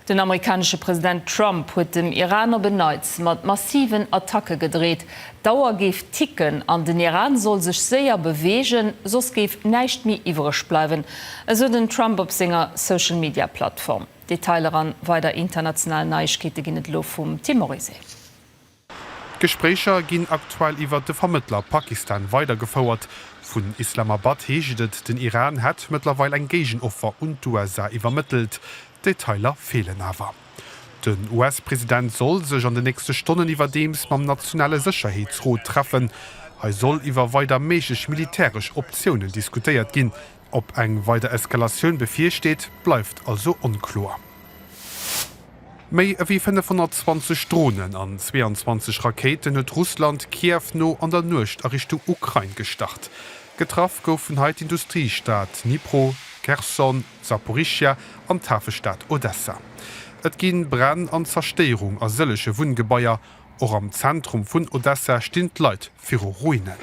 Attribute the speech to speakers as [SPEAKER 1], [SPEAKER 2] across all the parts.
[SPEAKER 1] Den amerikanesche President Trump huet dem Iran op en Neits mat massiven Attacke gedreet. D'Auer géif ticken an den Iran soll sech séier beweegen, soss géif näischt méi iwwereg bleiwen, esou den Trump op senger Social Media Plattform. Detailer an weider international Neiegkeete ginn et elo vum Tim Morisset. D'Gespréicher
[SPEAKER 2] ginn aktuell iwwer de Vermëttler Pakistan weidergefouert. Vun Islamabad heescht et, den Iran hätt mëttlerweil eng Géigenoffer un d'USA iwwermëttelt. Detailer feelen awer. Den US-President soll sech an den nächste Stonnen iwwerdeems mam nationale Sécherheetsrot treffen. Hei soll iwwer weider méiglech militäresch Optiounen diskutéiert ginn, Ob eng weider Eskalatioun bevirsteet, bleift also onkloer. Méi ewéi 520 Dronen an 22 Rakéiten huet Russland Kiew no an der Nuecht a Richtung Ukrain gestart. Getraff goufen hei d'Industriestad Dnipro, Kherson, Zaporizhzhia an d'Hafestad Odessa. Et gi Bränn an Zerstéierung a sëllege Wunngebaier, Och am Zentrum vun Odessa stinn d'Leit viru Ruinen.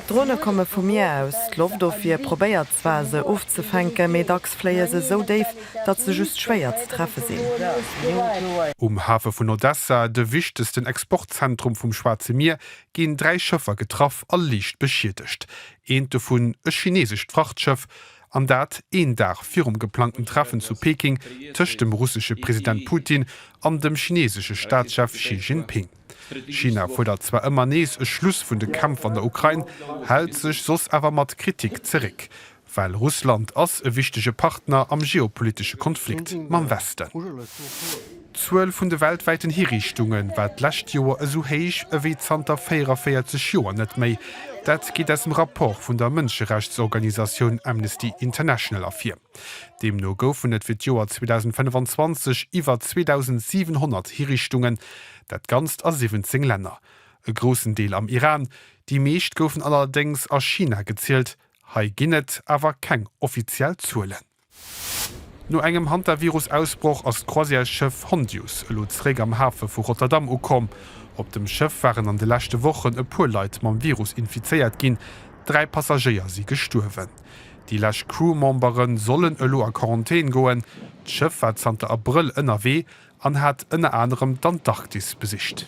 [SPEAKER 3] D'Drone komme vum Mier aus. D'Loftofwier probéiert zwar, se ofzefänken, mee dacks fléie se esou déif, datt se just schwéier ze treffe sinn. Um
[SPEAKER 2] Hafe vun Odessa, de wichtegsten Exportzentrum vum Schwaarze Mier, ginn dräi Schëffer getraff a liicht beschiedegt. Eent dovun, e chineesescht Frachtschëff, an dat een Dag virum geplangten Treffen zu Peking tëscht dem russesche President Putin an dem chinesesche Staatschef Xi Jinping. China fuerdert zwar ëmmer nees e Schluss vun de Kämpf an der Ukrain, hält sech soss awer mat Kritik zeréck, well Russland ass e wichtege Partner am geopolitesche Konflikt mam Westen. D'Zuel vun de weltwäiten Hiriichtunge war d'lescht Joer esou héich ewéi zanter 44 Joer net méi. Dat geet aus dem Rapport vun der Mënscherechtsorganisatioun Amnesty International ervir. Deemno goufen et fir d'Joer 2025 iwwer 2.700 Hiriichtungen, dat Ganzt a 17 Länner. E groussen Deel am Iran, déi meescht goufen allerdéngs a China gezielt. Hei ginn et awer keng offiziell Zuelen. No engem Hantavirus-Ausbroch ass d'Croisièresschëff Hondius elo zeréck am Hafe vu Rotterdam ukomm. Op dem Schëff waren an de leschte Wochen e puer Leit mam Virus infizéiert ginn, dräi Passagéier si gestuerwen. Déi lescht Crew-Membere sollen elo a Quarantän goen. D'Schëff war zanter Abrëll ënnerwee an hat ënner anerem d'Antarktis besicht.